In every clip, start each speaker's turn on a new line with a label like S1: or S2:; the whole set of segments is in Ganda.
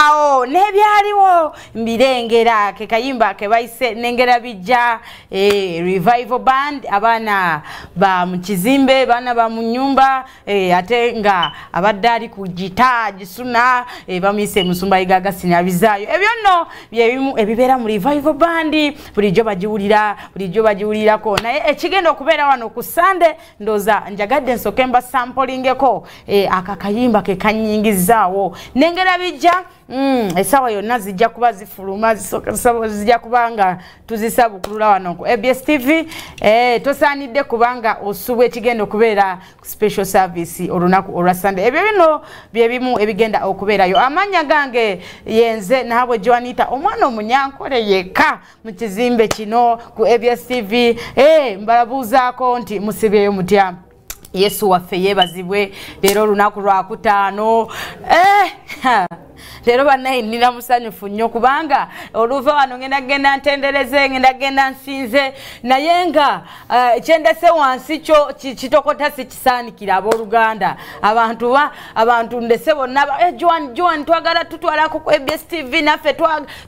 S1: awo nebyaliwo mbirengera kekayimba kebayise nengera bijja e, revival band abaana ba mukizimbe baana ba munyumba e, ate nga abadde ali ku gita gisuna e, bamuyise musumba igagasinabizaayo ebyo nno byebimu ebibeera mu revival band bulijjo bagiwulira bulijjo bagiwulirako naye ekigenda okubeera wano ku sande ndoza njagadde nsoke mba sampolingeko e, akakayimba kekanyingizaawo nengera bijja mm, esawa yonna zijja kuba zifuluma zijja kuba nga tuzisabukulula wano ku abs tv e, tosaanidde kubanga osubwa ekigenda okubeera ku special service olunaku olwa sunday ebyo bino byebimu ebigenda okubeerayo amanya gange yenze nahabwe joanita omwana omunyankole yekka mu kizimbe kino ku abs tv hey, eh, mbalabuuzaako nti musibyeyo mutya yesu waffe yeebazibwe leero olunaku lwakutaano eh, leero banaye nina musanyufu nnyo kubanga oluva wano ngenda genda ntendereze ngenda genda nsinze naye nga eh, kyendese wansi kyo kitokota saanikira abooluganda abantu ba abantu ndese bonna eh, joan joan twagala tutwalako ku abs tv naffe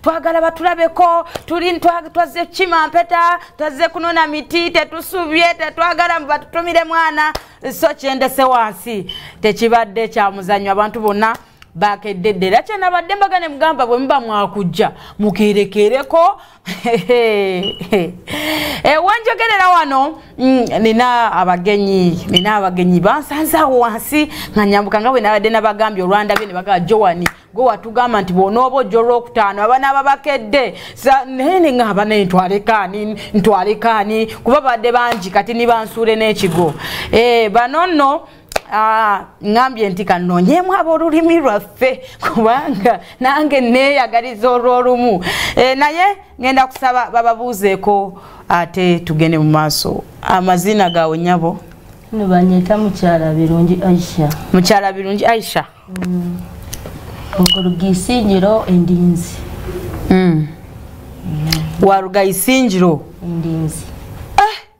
S1: twagala batulabeko tuli twazze kukima mpeta twazze kunona miti tetusubye tetwagala batutumire mwana so kyendese wansi tekibadde kyamuzanyo abantu bonna bakeddedde era kyenabadde mbaga ne mugamba bwe muba mwakujja mukerekereko ewanjogerera eh, wano mm, nina abagenyi nina abagenyi bansanzaawo wansi nga nyambuka nga bwe nabadde nabagambye olwandabye ne bagaa joani gwe watugamba nti bwonooba ojja olwokutaano abana babakedde naye neŋaba naye ntwalekaani ntwalekaani kuba badde bangi kati nibansuule n'ekigo eh, bano nno Ah, ngambye nti kanonyemu abolulimi lwaffe kubanga nange neyagaliza olwolumu eh, naye ngenda kusaba bababuuzeeko ate tugende mu maaso amazina gawe nyabo nibanyeta
S2: mukyala birungi aisha mukyala birungi aisha mm. okuruga isingiro endinzi mm. mm.
S1: waruga isingiro endinzi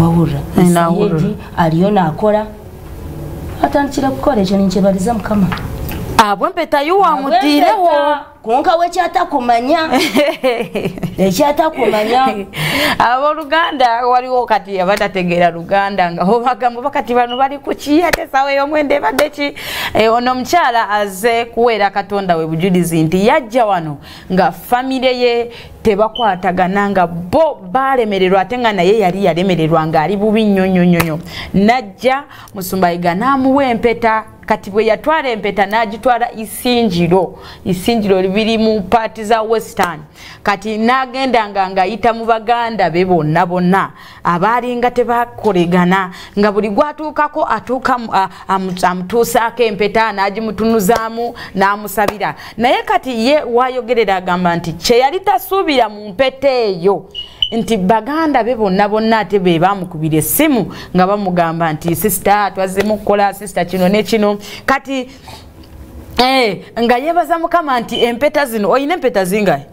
S2: wawurra sayedi
S1: aliyo nakola
S2: atandikira kukola ekyo ninkyebaliza mukama abwe
S1: mpetayo wamutiirewo kunka
S2: wekyatakumanya ekyatakumanya aboluganda
S1: waliwo kati abatategeera luganda nga obagambo bakati bano bali kuki ate esawa eyomwenda ebadde ki eh, ono omukyala aze kuweera katonda we bujulizi nti yajja wano nga famire ye tebakwatagana nga bo balemererwa ate nga naye yali yalemererwa ng'ali bubi nnyo nnyo nnyo nnyo najja musumbayiga n'amuwa empeta kati bwe yatwala empeta n'agitwala isingiro isingiro biri mu paati za western kati n'agenda nga ng'ayita mu baganda be bonna bonna abaalinga tebakolegana nga buli gwatuukako atuuka amutuusaako empeta n'agimutunuzaamu n'amusabira naye kati ye wayogerera agamba nti kye yali tasuubira mu mpeta eyo nti baganda be bonna bonna ate be bamukubira essimu nga bamugamba nti sisita twazzemu okukola sisita kino ne kino kati eh, nga yebaza mukama nti empeta zino olina empeta zingae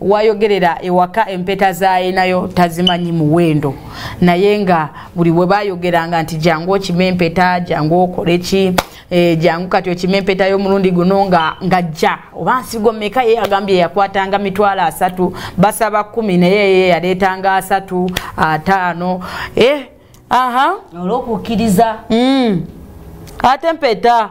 S1: wayogerera ewaka empeta zayinayo tazimanyi muwendo naye nga buli webayogeranga nti jangu okima empeta jangu okoleki e, jangu kati okima empeta yomulundi guno nga ngajja oba nsigo meka ye agambye yakwatanga mitwalo asatu basaba kumi naye ye yaleetanga asatu ataano e, aha
S2: olwokukkiriza mm.
S1: ate mpeta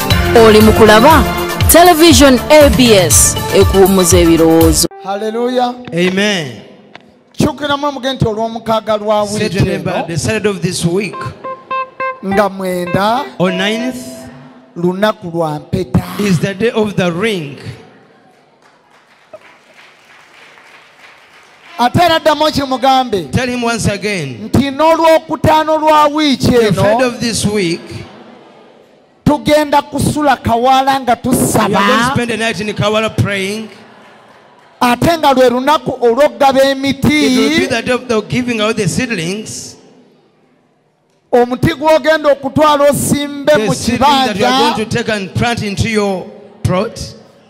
S3: oli mu kulaba television abs ekuwummuza ebirowoozo haleluya
S4: amen
S5: kyukiramu
S4: omuge nti olw'omukaaga lwa wiiki
S5: nga
S4: mwenda
S5: lunaku
S4: lwa mpeta is the day of the
S5: ring
S4: ate era ddamu okimugambe
S5: nti n'olwokutaano
S4: lwa wiiki eno tugenda kusula kawala nga tusaba ate nga lwe lunaku olw'okugaba emiti omuti gw'ogenda okutwala osimbe mu kibanja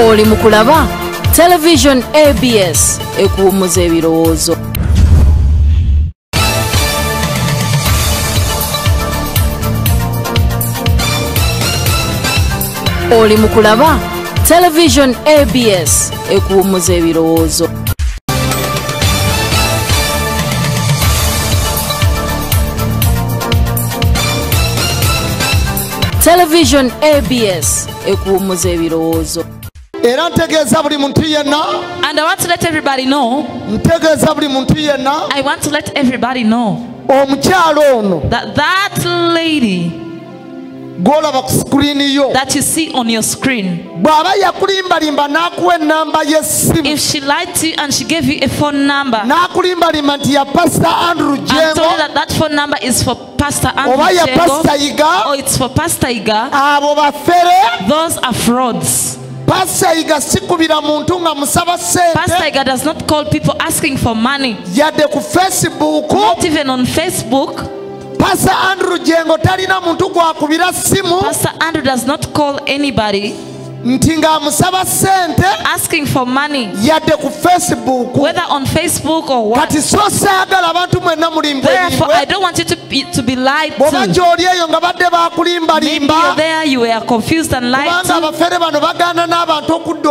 S3: oli mu kulaba television abs ekuwummuza ebirowoozo oli mu kulaba television abs ekuwummuza ebirowoozo television abs ekuwummuza ebirowoozo era
S4: ntegeeza buli muntu yenna and i want to let
S6: everybody know ntegeeza buli
S4: muntu yenna i want to let
S6: everybody know omukyalo
S4: ono that, that
S6: lady
S4: gwolaba ku sikirini yo that you see on your
S6: screen bw'aba yakulimbalimba
S4: n'akuwa ennamba y'essimu if she lied to you
S6: and she gave you a phone number n'akulimbalimba nti ya
S4: pastor andrew jengo and told you that that phone
S6: number is for pastor andrew oba ya pastor iga
S4: or it's for pastor
S6: iga abo bafere
S4: those are frauds
S6: Pastor Iga
S4: sikubira muntu nga musaba sente. Pastor Iga does not
S6: call people asking for money. Yadde ku
S4: Facebook. Not even on
S6: Facebook. Pastor
S4: Andrew Jengo talina
S6: muntu
S4: gwakubira simu.
S6: Pastor
S4: Andrew does
S6: not
S4: call
S6: anybody. nti
S4: ng'amusaba sente asking for
S6: money yadde ku
S4: facebook whether on facebook
S6: or what kati so saagala
S4: abantu mwenna mulimba therefore i don't want you to
S6: be, to be lied to bwoba gy'oli eyo nga badde
S4: bakulimbalimba
S6: there
S4: you were
S6: confused and lied to kubanga abafere bano
S4: bagaana n'abantu okudda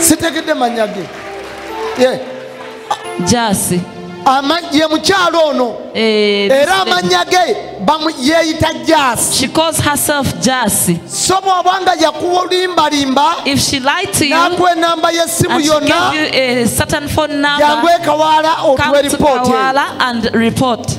S4: sitegedde manya ge ye
S6: jasi
S4: ye mukyalo ono eh, era amanya ge yeeyita jasi
S6: so bw'oba nga
S4: yakuwa olimbalimba n'akuwa
S6: enamba y'essimu yonna yangu ekawaala
S4: otuwa eripooti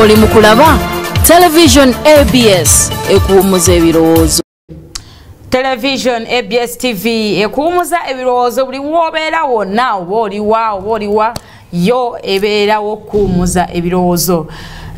S3: oli mu kulaba television abs ekuwummuza ebirowoozo
S1: television abs tv ekuwumuza ebirowoozo buli wobeera wonna oba oliwa oba oliwa yo ebeerawo okuwumuza ebirowoozo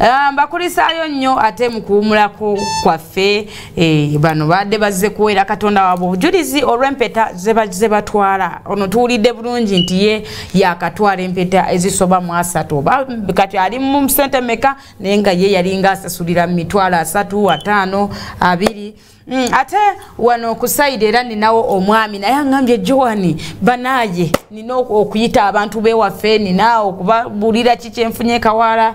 S1: ah, mbakulisaayo nnyo ate mukuwumulako kwaffe Eh, bano baadde bazze kuweera katonda waabwe obujulizi olw'empeta ze batwala ono tuwulidde bulungi nti ye yakatwala empeta ezisoba mu asatu oba kati ali mu sente meka naye nga ye yalinga asasulira mu mitwalo asatu ataano abiri mm, ate wano okusaida era ninawo omwami naye aŋambye joani banaaye nina okuyita abantu bewaffe nina okubabulira kikyenfunye kawaala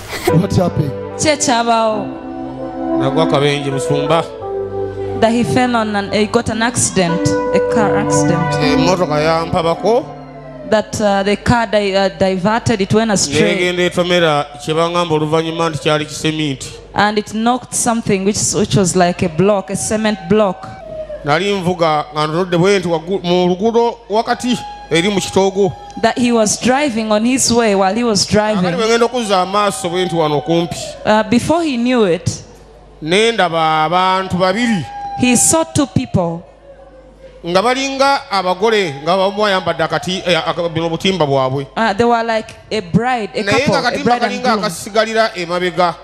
S2: What
S4: happened? Kye kyabawo.
S6: Nagwa
S7: kabenje musumba. That he
S6: fell on and he got an accident, a car accident. Eh, motoka ya mpabako.
S7: That uh,
S6: the car di uh, diverted, it went astray. Negende tomera chebangamba oluvanyuma nti kyali kisementi. And it knocked something which, which was like a block, a cement block. Nali mvuga
S7: nga ndodde bwenti mu lugudo wakati
S6: eri mu kitogo. that he was driving on his way while he was driving uh, before he knew it he saw two people nga balinga abagole nga bamu ayambadde akati eh, bino obutimba bwabwe uh, naye nga katimba kalinga akasigalira emabega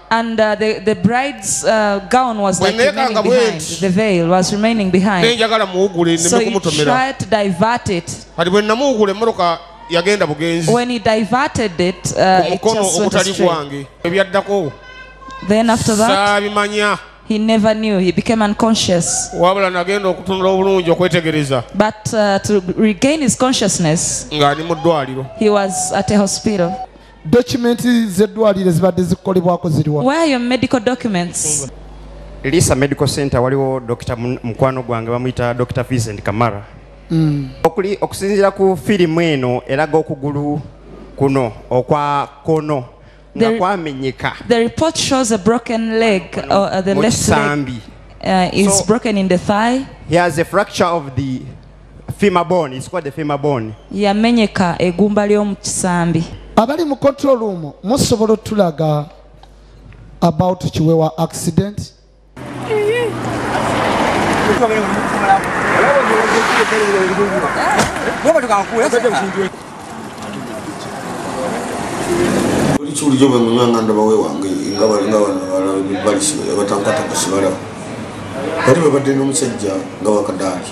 S6: bwenekanga bwenti nenjagala muwugule neme kumutomera kati bwe namuwugula emmotoka yagenda bugenzi when he diverted it uh, it just went astray ebyaddako then after that saabimanya he never knew he became unconscious wabula nagenda okutunula obulungi okwetegereza but uh, to regain his consciousness ng'ali mu ddwaliro he was at a hospital Dokimenti z'eddwaliro ezibadde zikolebwako ziriwa? Where are your medical documents? Lisa
S8: Medical Center waliwo Dr. Mukwano gwange bamuyita Dr. Vincent Kamara. Mm. Okuli okusinzira ku firimu eno eraga okugulu kuno okwa kono nga kwamenyeka.
S6: The report shows a broken leg or uh, the left leg uh, is so, broken in the thigh. He has a fracture
S8: of the femur bone it's called the femur bone yamenyeka
S6: egumba lyomu kisambi abali mu control
S4: room musobola otulaga about kiwewa accident
S9: buli kiwulijo bwe munywa nga ndaba wewange nga balinga banabalabalibatankwatagasibalaba bali babadde n'omusajja nga wakadaaki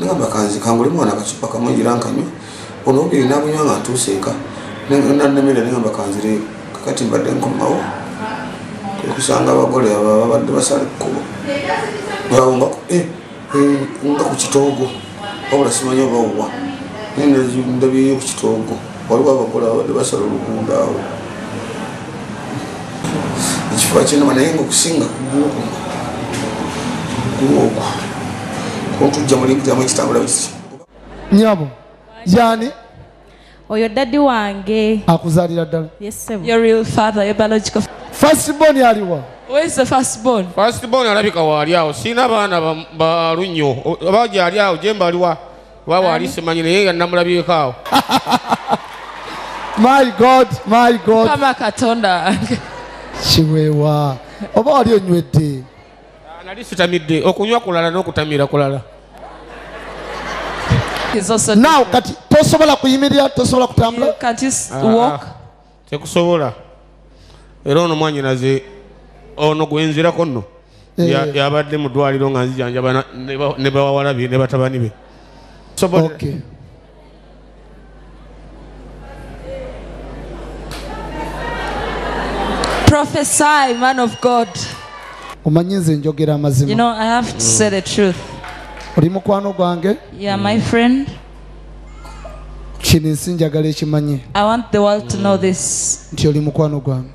S9: nagamba kanzi kangule mwana akacupa kamu era nkanywa ono obiri nabunywa nga ntuuse eka nanamira nagamba kanzire kakati mbadde nkomawo okusanga abagole ababadde basala ekkubo nga eh, eh, ku kitoogo wabula simanyi oba owa ndabyeyo ku kitoogo waliwo abakola babadde basala oluguudo awo ekifo kinama naye nga okusinga kugwoku gwoku kuntujja mulimutamu ekitambula bisi nyabo
S4: yani oyo
S10: dadi wange akuzalira
S4: ddala
S6: fastbon
S4: aliwa
S6: fastbon alabika
S7: waali awo sirina baana balunyo oba gyali awo jemba aliwa Wa wali simanyi naye nga namulabyeko awo.
S4: My God, my God. Kama katonda.
S6: Kiwewa.
S4: Oba wali onywedde. Ah, nali
S7: sitamidde okunywa kulala n'okutamira kulala.
S4: Now kati tosobola kuyimirira tosobola kutambula. You can't just walk.
S6: Ah. tekusobola
S7: era ono mwanyinaze ono gwenzirako nno eh. yabadde mu ddwaliro nga nzijanjaba ne bawala be ne batabani be
S6: Prophesy, man of God. omanyi nze njogera amazima oli mukwano gwange kino ensi njagala ekimanye nti oli mukwano gwange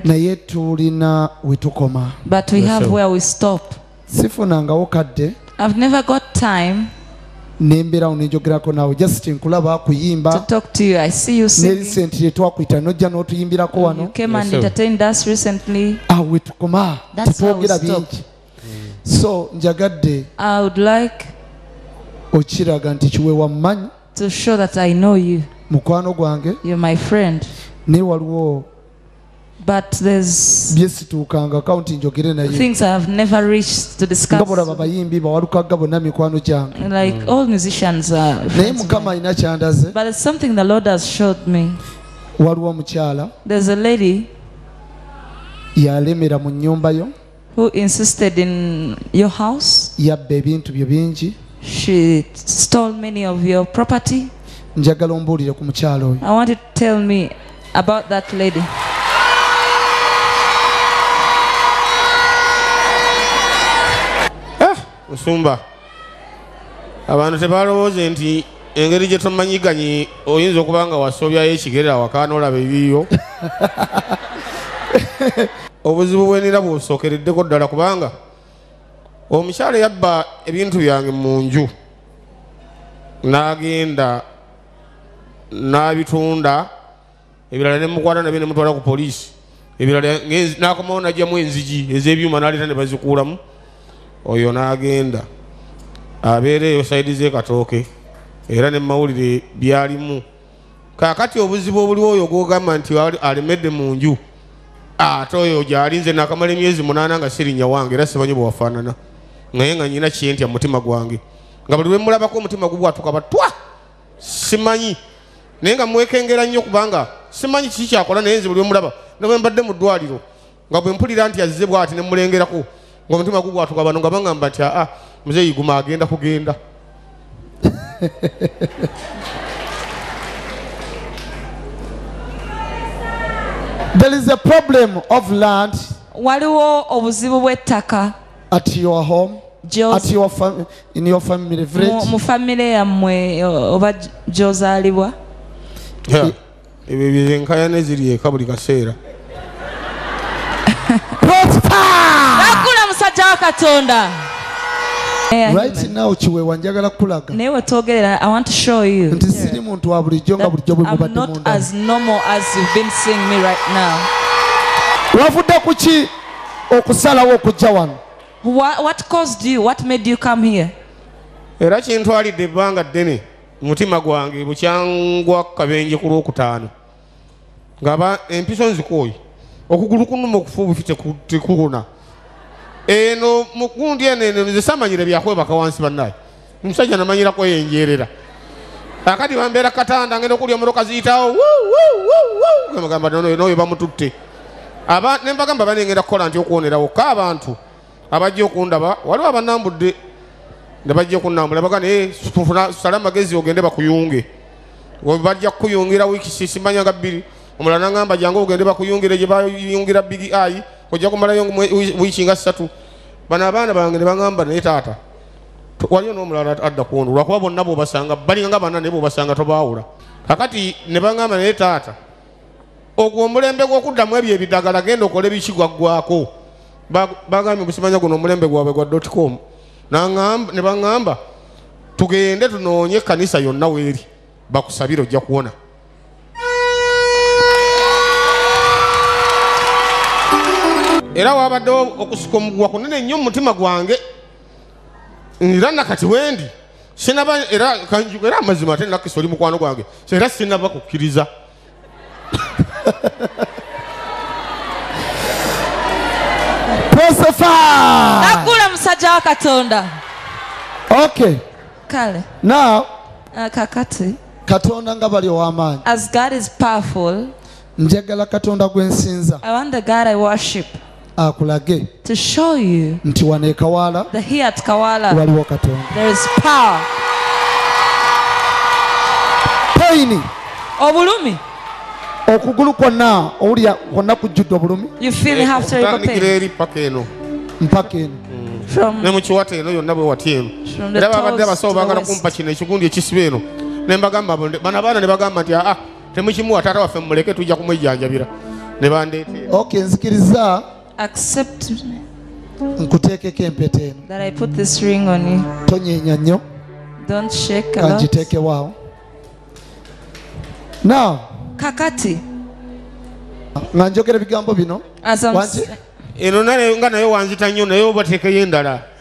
S6: naye tulina we tukoma sifunangawo kadde nembeerawo nenjogerako naawe just nkulaba kuyimba nerisenti lyetwakuita nojja n'otuyimbirako wano awo wetukoma tetwogera bingi so
S4: njagadde i would like okiraga nti kiwe wammanyi to show that i
S6: know you mukwano gwange
S4: you're my friend
S6: naye waliwo
S4: but
S6: there's byesituukanga
S4: kaunti njogere naye things i have never
S6: reached to discuss ngabo laba bayimbi
S4: bawalukagga bonna mikwano gyange like mm. all musicians
S6: are naye mukama alina
S4: kyandaze but it's something the lord
S6: has showed me waliwo
S4: omukyala there's a lady
S6: yalemera
S4: mu nnyumba yo who insisted
S6: in your house yabba ebintu byo
S4: bingi she
S6: stole many of your property njagala ombuulire
S4: ku mukyalo oyo i want you to tell me
S6: about that lady
S11: eh, musumba abantu tebalowooze nti engeri gye tomanyiganyi oyinza okuba nga wasobyayo ekigere awaka nolaba ebiyo obuzibu bwenira busookereddeko ddala kubanga omukyala yabba ebintu byange mu nju n'agenda n'abitunda ebirala ne mukwata nabyo ne mutwala ku poliisi ebirala n'akomawo najjamu enzigi ez'ebyuma n'aleeta ne bazikuulamu oyo n'agenda abeera eyo sayidi z'ekatooke era ne mawulire byalimu kakati obuzibu obuliwo oyo gwogamba nti alemedde mu nju ate oyo gyali nze nakamala emyezi munaana nga sirinya wange era simanyi bwewafaanana naye nga nyina kyentya mumutima gwange nga buli lwemulabako omutima gubwatuka batwa simanyi naye nga mwekengera nnyo kubanga simanyi kiki kyakola naye nze buli omulaba ne bwe mbadde mu ddwaliro nga bwe mpulira nti azze bwati ne mulengerako nga omutima gugwatuka bano nga baŋamba nti aa muzeeyi guma agenda kugenda
S4: there is a problem of land waliwo
S6: obuzibu bw'ettaka at your
S4: home at your fam in your family village mu family yamwe
S6: oba jozalibwa
S11: ebyo byenkaya neziri eka buli kaseera
S6: akula musajja wa katonda
S4: right now kiwewa njagala kukulaga naye wetwogerera i
S6: want to show you nti siri muntu wa
S4: bulijjo nga bulijjo bwe mubadde munda as normal
S6: as you've been seeing me right now wavudde
S4: ku ki okusalawo okujja wano what
S6: caused you what made you come here era
S11: kintwalidde ebbanga ddene mutima gwange bukyangwa kabenje ku lwokutaano ngaba empiso nzikooyi okugulu kunuma okufa obufi tekukuna eno mukundi eno eno nze samanyire byakwebaka wansi bannaye omusajja namanyirako yenjeerera akati bambeera katanda ngenda okulya omuroka ziyitawo gamagamba noyo bamututte aba nembagamba banengenda kukola nti okuwonerawo ka abantu abajja okundaba waliwo abanambudde nebajja okunambula baga naye sala amagezi ogende bakuyunge bajja kukuyungira wiiki sisimanya nga bbiri omulala nangamba jangu ogende bakuyungire gye bayungira bigi ayi ojja kumalayo wiiki nga ssatu bano abaana bange ne bagamba naye taata waliyo n'omulala adda kuono lwakuba bonna bwobasanga balinga nga bana naye bwobasanga tobaawula kakati ne baŋamba naye taata ogwo omulembe gw'okuddamu ebyo ebidagala genda okole biki gwaggwako bagambye obusimanya guno omulembe gwabwe gwa dotcom ne baŋamba tugende tunoonye ekkanisa yonna weeri bakusabire ojja kuwona era wabaddewo okusika omuguwa kunene nnyo mu mutima gwange era nakati wendi sinaba era kanjuga era amazima ate nakisa oli mukwano gwange era sinaba kukkiriza
S6: nakula musajja wa katonda
S4: okay kale
S6: now
S4: uh, kakati
S6: katonda nga
S4: bali ow'amaanyi as god is
S6: powerful njagala
S4: katonda gwe nsinza i want the god i
S6: worship akulage
S4: to show
S6: you nti wano ekawaala
S4: that here at Kawala
S6: waliwo katonda there
S4: is power. payini Obulumi, okugulu kwonna owulira kwonna kujjudde obulumi you feel you have terrible
S6: Okutandikira pain eri paka eno mpaka
S4: eno from ne mu kiwata
S11: eno yonna bwe watya eno From the era babadde toes abasawo to the baagala waist. kumpa kino ekigundi ekisiba eno ne mbagamba bano abaana ne bagamba nti aa temukimuwa taata waffe mumuleke tujja kumwejjanjabira ne bandeete ok nzikiriza
S4: nkuteekeko empeta eno
S6: tonyeenya nnyo kangiteekewaawo
S4: now kakati
S11: nga
S4: njogera
S11: ebigambo bino eno nga
S4: naye
S11: wanzita nnyo naye obateekeyo endala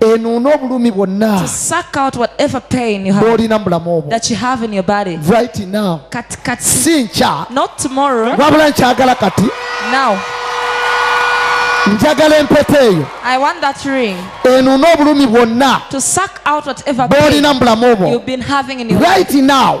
S6: enuuna obulumi
S4: bwonna
S6: bw'olina mu bulamu obwo right now
S4: si nkya
S6: wabula nkyagala kati njagala empeta eyo enuuna obulumi bwonna bw'olina mu bulamu obwo right now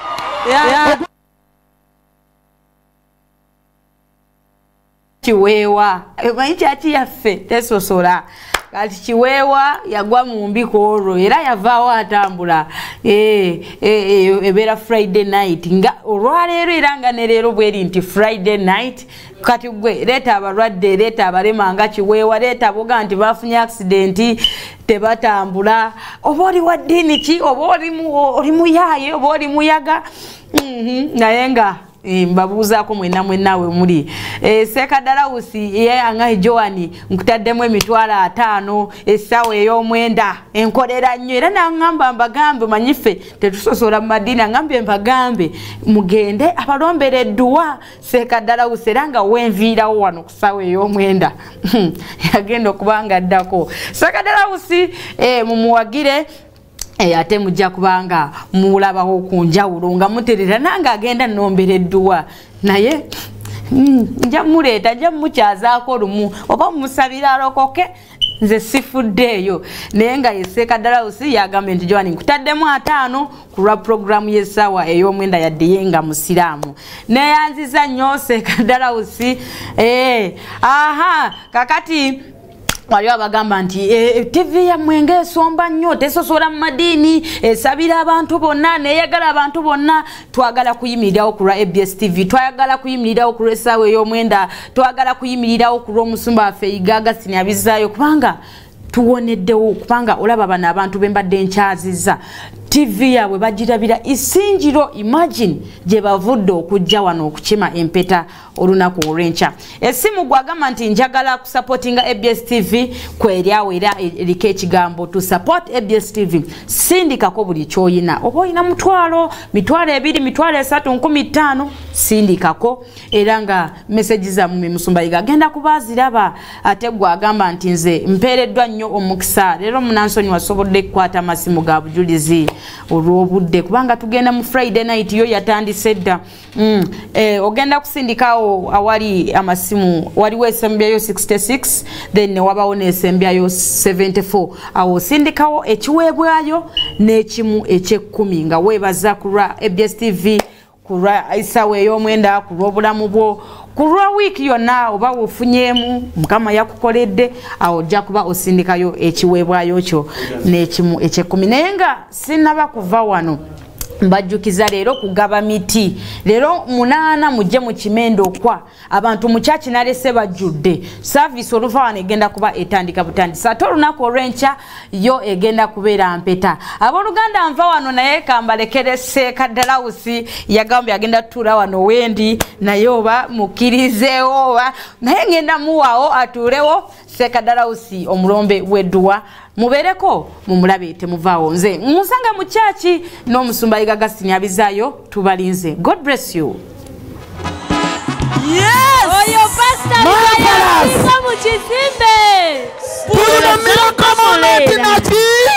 S1: kiweewa emanyi kyaki yaffe tesosola kati kiweewa yagwa mu mbi ku olwo era yavaawo atambula eh, eh, eh, ebeera friday night nga olwaleero era nga ne leero bweri nti friday night kati gwe leeta abalwadde leeta abalema nga kiweewa leeta boga nti bafunye akisidenti tebatambula oba oli wa ddiini ki oba oli muyaaye oba oli muyaga mhm, naye nga eh, mbabuuzaako mwena mwenaawe muli eh, sekadalawusi ye angahi joani nkutaddemu emitwalo ataano essaawa ey'omwenda enkolera nnyo era naŋŋamba mbagambe manyi ffe tetusosola mu madiini aŋambye mbagambe mugende abalombera edduwa seeka ddala wuse era nga wenviirawo wano kusaawa ey'omwenda hmm. yagenda okuba nga addako seeka ddala wusi eh, mumuwagire Eh, ate mujja kubanga mulabawo ku njawulo nga muterera nange agenda nombera edduwa naye mm, nja muleeta nja mukyazaako lumu oba mumusabira alokoke nze sifuddeeyo naye nga yeseeka dalausi yagambye nti joani nkutaddemu ataano ku lwa pulogulaamu y'essaawa ey'omwenda yaddiye nga musiraamu neyanziza nnyo seeka dalausi ee eh, aha kakati waliwo abagamba nti eh, eh, tivi yammwe ngaesomba nnyo tesosola mu madiini esabira abantu bonna neyagala abantu bonna twagala kuyimirirawo ku lwa abs tv twagala kuyimirirawo ku lwesaawa ey'omwenda twagala kuyimirirawo ku lw'omusumba waffe yiga agasini abizzaayo kubanga tuwoneddewo kubanga olaba bano abantu be mbadde nkyaziza tv yaabwe bagirabira isingiro imagine gye bavudde okujja wano okukima empeta olunaku olwenkya esimu gwagamba nti njagala kusapotinga abs tv kweryawo era eriko ekigambo to support abs tv sindikako buli kyoyina oba olina mutwalo mitwalo ebiri mitwalo esatu nkumi ttaano sindikako era nga meseji zamumi musumbayiga agenda kubaziraba ate gwagamba nti nze mpeereddwa nnyo omukisa leero munansoni wasobodde kukwata amasimu ga bujulizi olw'obudde kubanga tugenda mu friday night yo yatandise dda Mm. Eh, ogenda kusindikawo awali amasimu waliwo esembyayo 66 then newabawo nesembyayo 74 awo osindikawo ekiweebwayo n'ekimu ekyekkumi nga weebaza ku lwa abs tv ku lwa isawa ey'omwenda ku lw'obulamu bwo ku lwa wiiki yonna oba wofunyeemu mukama yakukoledde awo ojja kuba osindikayo ekiweebwayo kyo n'ekimu ekyekkumi naye nga sinaba kuva wano mbajjukiza leero kugaba miti leero munaana mujje mu kimendo okwa abantu mukyaki nalese bajjudde saavisi oluva wano egenda kuba etandika butandisi ate olunaku olw'enkya yo egenda kubeera mpeta abooluganda nva wano naye kambalekere seeka dalawusi yagamba yagenda tutuula wano wendi naye oba mukkirizeewo oba naye ngenda muwaawo atuulewo Seka Darausi omulombe wedduwa mubereko mumulabe temuvaawo nze musanga mu kyaki n'omusumba Yiga Gasini abizaayo tubalinze God bless you
S4: Yes! Oh, your pastor! Marvelous! Come on, Jesus! Put it in the middle, come on, let him